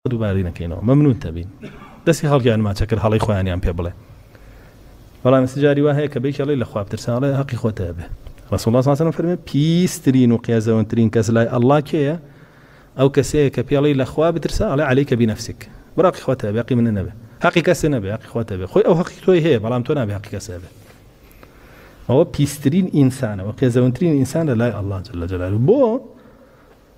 دووبارەی نەکەینەوە مەمنون تەبین. دەستی خەڵکی یان ماچە کرد هەڵەی خۆیانیان پێ بڵێ بەڵام ئێستا جاری وا هەیە کە بەیەکێ ڵێی لە خوا بترسە ئەڵێ هەقی خۆتە هەبێ ڕسول الله صلی الله علیه و سلم فەرمێ پیسترین و قێزەونترین کەس لای ئەڵڵا کێیە ئەو کەسەیە کە پێڵی لەخوا بترسە ئەڵێ عەلیکە بینەفسیک بڕاقی خۆتە بێ قی منە نەبێ هەقی کەسێ نەبێ هەقی خۆتە بێ خۆی ئەو هەقی تۆی هەیە بەڵام تۆ نابێ هەقی کەسێ بێ ئەوە پیسترین ئینسانەوە قێزەونترین ئینسان لە لای ئەڵڵا جل جلاله بۆ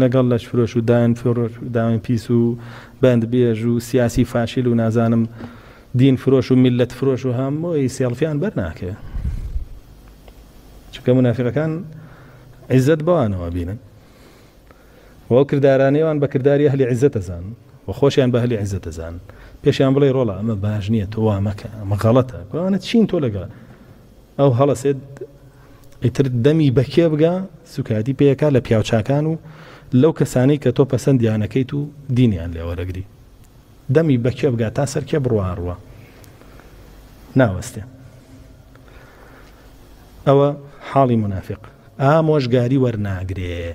لەگەڵ لەشفرۆش و داین فرۆش و داوێن پیس و بەند بێژ و سیاسی فاشیل و نازانم دین فرۆش و میللەت فرۆش و هەمووی سێڵفیان بەر ناکەوێ چونکە منافقەکان عیزەت بەوانەوە بینن و ئەو کردارانەیەوان بە کرداری ئەهلی عیزەت دەزان و خۆشیان بە هەلی عیزەت دەزان پێشیان بڵێ ڕۆڵە ئەمە باش نییە تۆ وا مەکە ئەمە غەڵەتە گوانە چین تۆ لەگەڵ ئەو هەڵەسێت ئیتر دەمی بەکێ بگا سوکایەتی پێکا لە پیاوچاکان و لەو کەسانەی کە تۆ پەسەندیانەکەیت و دینیان لێوەرەگری دەمی بەکێ بگا تا سەرکێ بڕواڕوە ناوەستێ ئەوە حاڵی منافق ئامۆژگاری وەرناگرێ